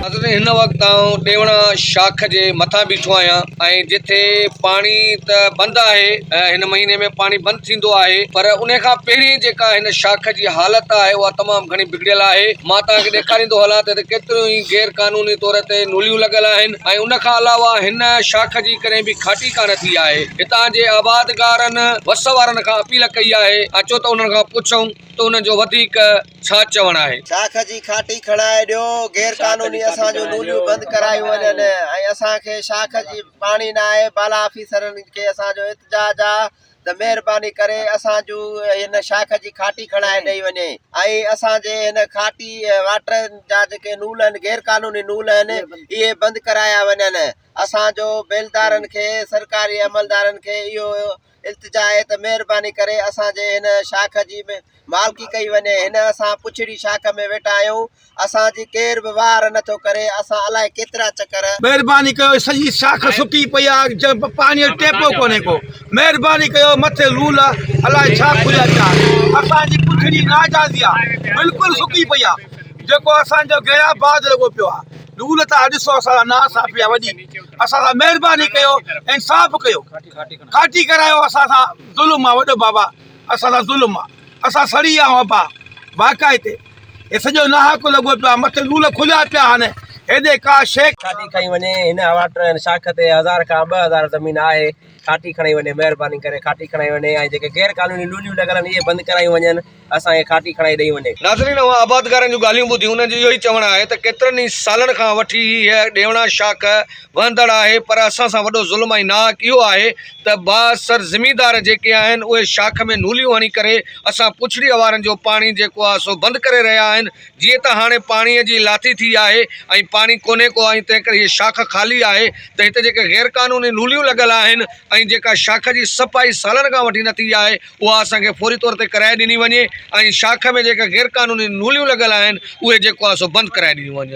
حضرت هن وقت آئون ڏيوڻا شاخ جي مٿان بيٺو آهيان ۽ جتي پاڻي ته بند آهي هن مهيني ۾ پاڻي بند ٿيندو آهي پر ان کان پهرين جيڪا هن شاخ جي حالت آهي اها تمام گهڻي گهڙيل آهي. مان توهان کي ڏيکاريندو هلان ته هتي ڪيتريون ئي غير قانوني طور تي نوليون لڳل آهن ۽ ان کان علاوه هن شاخ جي ڪڏهن به کاٽي ڪانه ٿي آهي. هتان جي آبادگارن وس وارن کان اپيل ڪئي آهي اچو ته انهن کان پڇون ته انهن جو وڌيڪ ڇا چوڻ آهي. شاخ جي کاٽي کڻائي ڏيو، غير قانوني اسان جون نوليون بند ڪرايون وڃن ۽ اسان کي شاخ جي پاڻي ناهي، بالا آفيسرن کي اسان جو احتجاج آ ته مهرباني ڪري اسان جون هن شاخ جي کاٽي کڻائي ڏئي وڃي ۽ اسان جي هن کاٽي واٽر جا جيڪي نول آهن غير قانوني نول آهن اهي بند ڪرايا وڃن اسان جو بيلدارن کي سرڪاري عملدارن کي اهو التجا آهي ته مهرباني ڪري اسان جي هن شاخ جي مالڪي ڪئي وڃي هن اسان پڇڙي شاخ ۾ ويٺا آهيون اسان جي ڪير به واهر نه ٿو ڪري اسان الائي ڪيترا چڪر. مهرباني ڪيو سڄي شاخ سڪي پئي آهي پاڻي جو ٽيپو ڪونهي ڪو مهرباني ڪيو مٿي لول الائي ڇا کليا پيا آهن اسان جي پڇڙي ناجائزي آهي بلڪل سڪي پئي آهي جيڪو اسان جو گهيرا باز لڳو پيو آهي لول تان ڏسو اسان لاء نا انصافي آهي وڏي اسان سان مهرباني ڪيو انصاف ڪيو کاٽي ڪرايو اسان سان ظلم آهي وڏو بابا اسان سان ظلم آ اسان سڙي آ ابا واقعي تي هي سڄو ناحق لڳو پيو آ مٿي لول کليا پيا آهن هيڏي ڪا شيء کاٽي کڻي وڃي هن واٽر ۽ شاخ تي هزار کان ٻه هزار زمين آهي کاٽي کڻي وڃي مهرباني ڪري کاٽي کڻائي وڃي ۽ جيڪي غير قانوني لوليون لڳل آهن اهي بند ڪرايون وڃن اسان کي کاٽي کڻائي ڏئي وڃي. ناظرين اوهان آبادگارن جون ڳالهيون ٻڌيون انهن جو اهو ئي چوڻ آهي ته ڪيترن ئي سالن کان وٺي هيء ڏيوڻا شاخ وهندڙ آهي پر اسان سان وڏو ظلم ۽ ناحق اهو آهي ته بااثر زميندار جيڪي آهن اهي شاخ ۾ نوليون هڻي ڪري اسان پڇڙيء وارن جو پاڻي جيڪو آهي سو بند ڪري رهيا آهن جيئن ته هاڻي پاڻيء جي لاٿي ٿي آهي ۽ پاڻي ڪونهي ڪو ۽ تنهن ڪري هيء شاخ خالي آهي ته هتي جيڪي غير قانوني نوليون لڳل آهن ۽ جيڪا شاخ جي صفائي سالن کان وٺي نه ٿي آهي اها اسان کي فوري طور تي ڪرائي ڏني وڃي ۽ شاخ ۾ جيڪي غير قانوني نوليون لڳل آهن اهي جيڪو آهي سو بند ڪرائي ڏنيون وڃن.